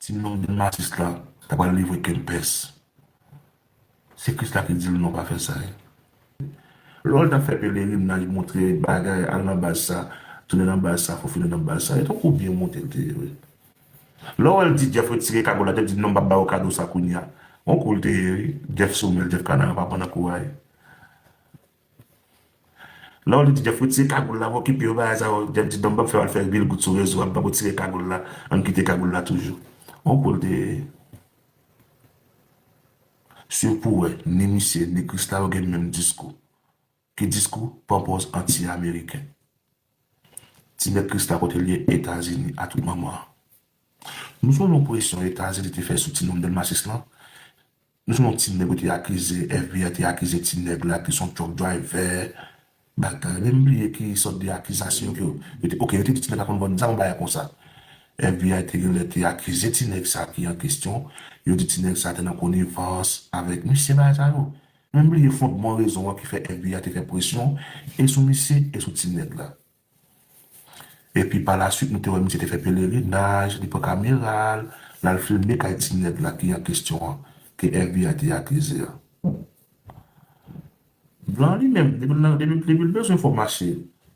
Ti non di m atis la ta pral livre kempès se kris la ki di l non pa fè sa e lò l ta fè pelerinaj montre bagay al nan baz sa tounen nan baz sa fofile nan baz sa e ton kou byen monte l te ye wi lò wè l di jeff retire kagòl la jeff di non m pap ba ou kado sa kounya on kou l te ye wi jeff sou menl jeff kanaran pa pran nan kou a e Lè w li ti Jeff retire kagoul la mwen okipe yo bagay sa yo Jeff di non m pap fè yo al fè vil gout sou rezo a m pap retire kagoul la ann kite kagoul la toujou on kou l te swiv pou wè ni misye ni Christa yo gen menm diskou ki diskou ponpoz anti ameriken ti nèg Christa kote l ye etazini a tout manman an nou sonje yon presyon etazini te fè sou ti nonm delmasis lan Nou se yon ti nèg yo te akize, FBI te akize ti nèg la ki son truck driver, bagay, menm bliye ki sòt de akizasyon ke yo te, ok yo te di ti nèg la konn vann zam, bagay konsa. FBI te gen lè te akize ti nèg sa ki an kestyon, yo di ti nèg sa te nan konivans avèk misye, bagay sa yo. Menm bliye fondman rezon an ki fè FBI te fè presyon e sou misye e sou ti nèg la. Epi pa la swit nou te wè misye te fè pelerinaj, li pran kamera l, l al filme kay ti nèg la ki an kesyon an, ke FBI te akize a. Blan an li menm, depi l nan, depi l bezwen fò mache,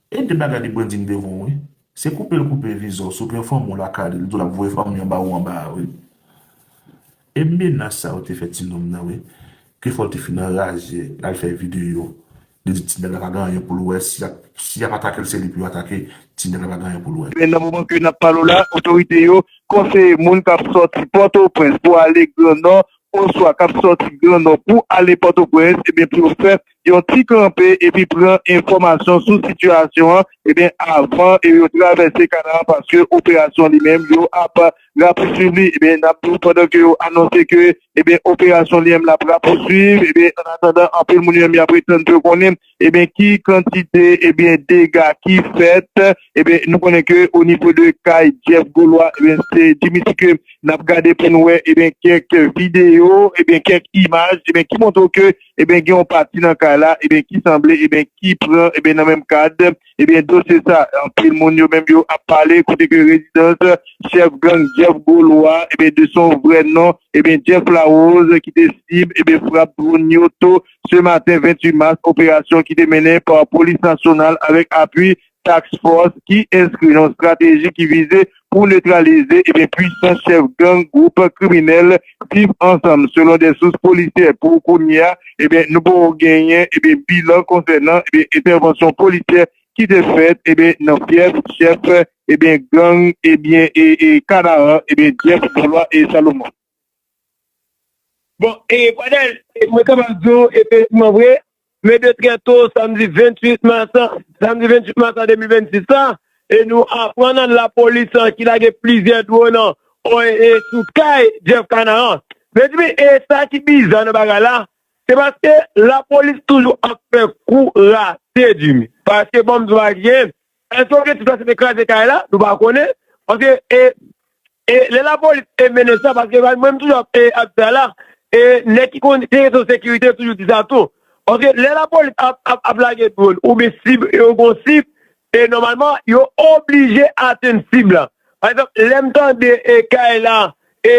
e de bagay li branding devan w wi, se koupe l koupe viza w si w gen fanmi w lakay li, li di w l ap voye fanmi anba ou anba a wi. E menas sa yo te fè ti nonm nan wi, ke fò l te fin anraje, l al fè videyo, Li di tinèg la pa gen anyen poul wè si yap atakel se li pou yo atake tinèg la pa gen anyen poul wè. Men nan moman ke nap pale w la, otorite yo konseye moun kap sòti Pòtoprens pou ale Gran Nò oswa kap sòti Gran Nò pou ale Pòtoprens ebyen pou yo fè yon ti kanpe epi pran enfòmasyon sou sitiyasyon an ebyen avan yo travèse Kanaran paske operasyon li menm yo ap rapousuiv li nap diw pandan ke yo anonse ke operasyon li menm lap rapousuiv an atandan anpil moun yo menm yap ret tann pou yo konnen ki kantite dega ki fèt nou konnen ke onivo de kay Jeff Golois se Dimitri ke nap gade pou nou wè kèk video kèk imaj ki montre w ke gen yon pati nan kay la ki sanble ki pran nan menm kad. Ebyen dosye sa anpil moun yo menm yo ap pale kote ke rezidans chèf gang Jeff Golois ebyen de son vrè non ebyen Jeff Larose ki te sib ebyen frap dronn yo to se maten 28 mas operasyon ki te mennen pa polis nasyonal avèk apui Task Force ki enskri nan strateji ki vize pou netralize e byen pwisans chèf gang gwoup kriminèl Viv ansanm selon de sous polisyè pou kounya e byen nou poko genyen e byen bilan konsènan e byen entèvansyon polisyè ki te fèt e byen nan fyèf chèf e byen gang e byen e kanaran e byen Jeff Benoit Salomon. Bon e Pradel e mwen kapab di w efektivman vre men de trè to samdi 28 mas lan samdi 28 mas lan 2026 la e nou aprann an lapolis an ki lage plizyè dwòn an sou kay Jeff Canaran mezanmi e sa ki biza nan bagay la se paske lapolis toujou ap fè kou rate Jimmy paske banm di w pa gen Eske objektif la se te kraze kay la, nou pa konnen, paske e e lè lapolis te mennen sa, paske mwen menm toujou ap e ap di sa la, e nèg ki konn gen kesyon sekirite toujou di sa tou, paske lè lapolis ap ap ap lage dwòn oubyen sib yo gon sib, e nòmalman yo oblije atenn sib la. Pa egzanp, lè m tande e kay la, e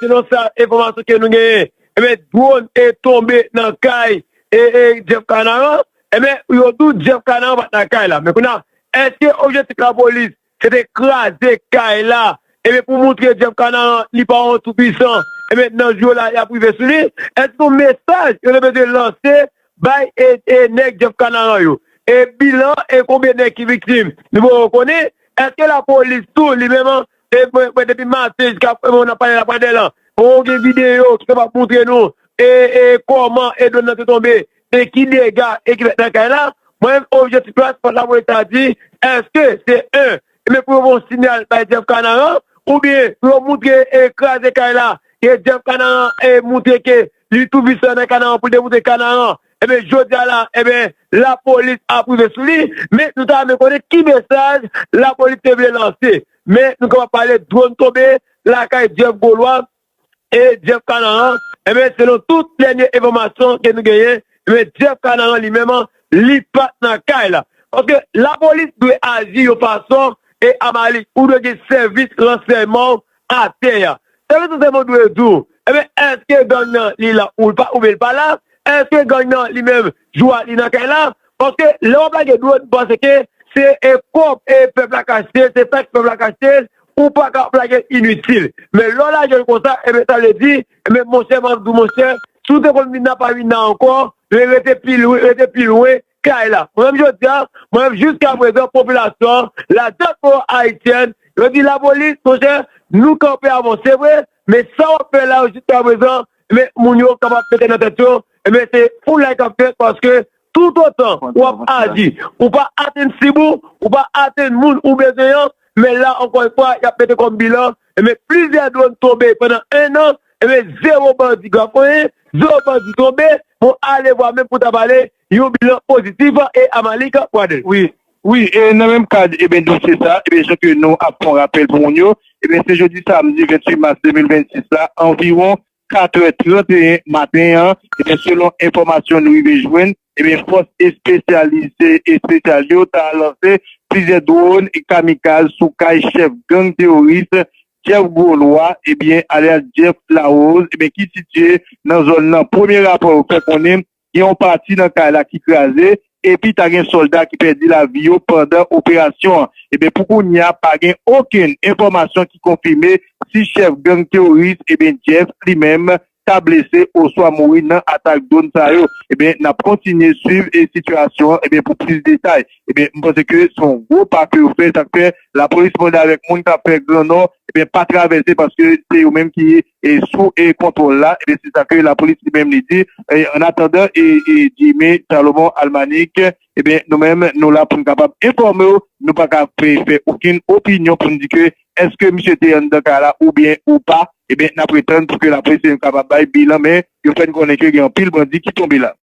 selon sa enfòmasyon ke nou genyen, enben dwòn e tonbe nan kay e e Jeff Canaran, Ebyen yo tou Jeff Canaan pat nan kay la men kounya eske objektif lapolis se te kraze kay la ebyen pou moutre Jeff Canaan li pa yon tou pwisan ebyen nan jou yo la yap rive sou li eske se yon mesaj yo te bezwen lanse bay nèg Jeff Canaan yo e bilan e konbyen nèg ki viktim nou poko konnen eske lapolis tou li menm mwen depi maten jiska mwen ap pale la pandan lan poko gen videyo ki kapab moutre nou e kòman e dwòn nan te tonbe E ki dega e ki fèt nan kay la? Mwen menm objektif mwen ak spot la mwen ta di eske se 1 ebyen pou yo voye yon sinyal bay Jeff Kanaran oubyen pou yo moutre e kraze kay la ke Jeff Kanaran e moutre ke li tou visè nan Kanaran pou l demoutre Kanaran ebyen jodi a la ebyen lapolis ap rive sou li men nou ta renmen konnen ki mesaj lapolis te vle lanse men nou kapab pale dron tonbe lakay Jeff Golois E Jeff Kanaran, enben selon tout dènye enfòmasyon ke nou genyen, enben Jeff Kanaran li menm li pat nan kay la. Paske lapolis dwe aji yon fason e Amalik ou dwe gen sèvis ransèyman w atè a. Sèvis ransèyman w dwe di w, enben èske gang nan li la oubyen l pa la, èske gang nan li menm jou a li nan kay la, Paske lè wap lage dlo nou panse ke se kob pèp la ka achte, se taks pèp la ka achte, ou paka ap lage l initil. Men lè w lage l konsa, enben sa vle di, enben monchè map di w monchè, si w te konn vin nan pa vin nan ankò, men rete pi lwen, rete pi lwen kay la. Mwen menm jodi a, mwen menm jiska prezan popilasyon an, la diaspora haitienne, yo di lapolis monchè nou kanpe avan w. Se vre, Men sa wap fè la jiska prezan men moun yo kapab mete nan tèt yo men se foulay kap fèt paske tout otan wap aji ou pa atenn sib ou ou pa atenn moun ou bezwen an men la ankò yon fwa yap mete kòm bilan men plizyè dwòn tonbe pandan 1 an men zewo bandi grafonyen zewo bandi tonbe bon alevwa menm pou ta pale Yon bilan positif e Amalik Pradl. Wi wi e nan menm kad eben dosye sa eben jan ke nou ap fon rapèl pou moun yo eben se jodi samdi 28 mas 2026 la anviwon 4 è 31 maten an eben selon enfòmasyon nou rive jwenn eben fòs espesyalize espesyal yo ta lanse plizyè dwòn kamikaz sou kay chèf gang teworis Jeff Gwo Lwa eben alyas Jeff Larose eben ki sitye nan zòn nan premye rapò yo fè konnen Gen yon pati nan kay la ki kraze epi ta gen sòlda ki pèdi lavi yo pandan operasyon an. Eben pou kounye a pa gen okenn enfòmasyon ki konfime si chèf gang teworis eben Jeff li menm ta blese oswa mouri nan atak dwon sa yo. Eben n ap kontinye swiv sitiyasyon an eben pou plis detay. Eben m panse ke se yon gwo pa ke yo fè sa k fè lapolis mande avèk moun k ap fè gran nò eben pa travèse paske se yo menm ki sou kontwòl la, e se sa ke lapolis li menm li di, an atandan Jimmy Salomon Almanique, ebyen nou menm nou la pou nou kapab enfòme w, nou pa ka fè okenn opinyon pou nou di ke eske misye te anndan kay la oubyen ou pa, ebyen n ap ret tann pou ke lapolis li menm kapab bay bilan, men yo fè n konnen ke gen anpil bandi ki tonbe la.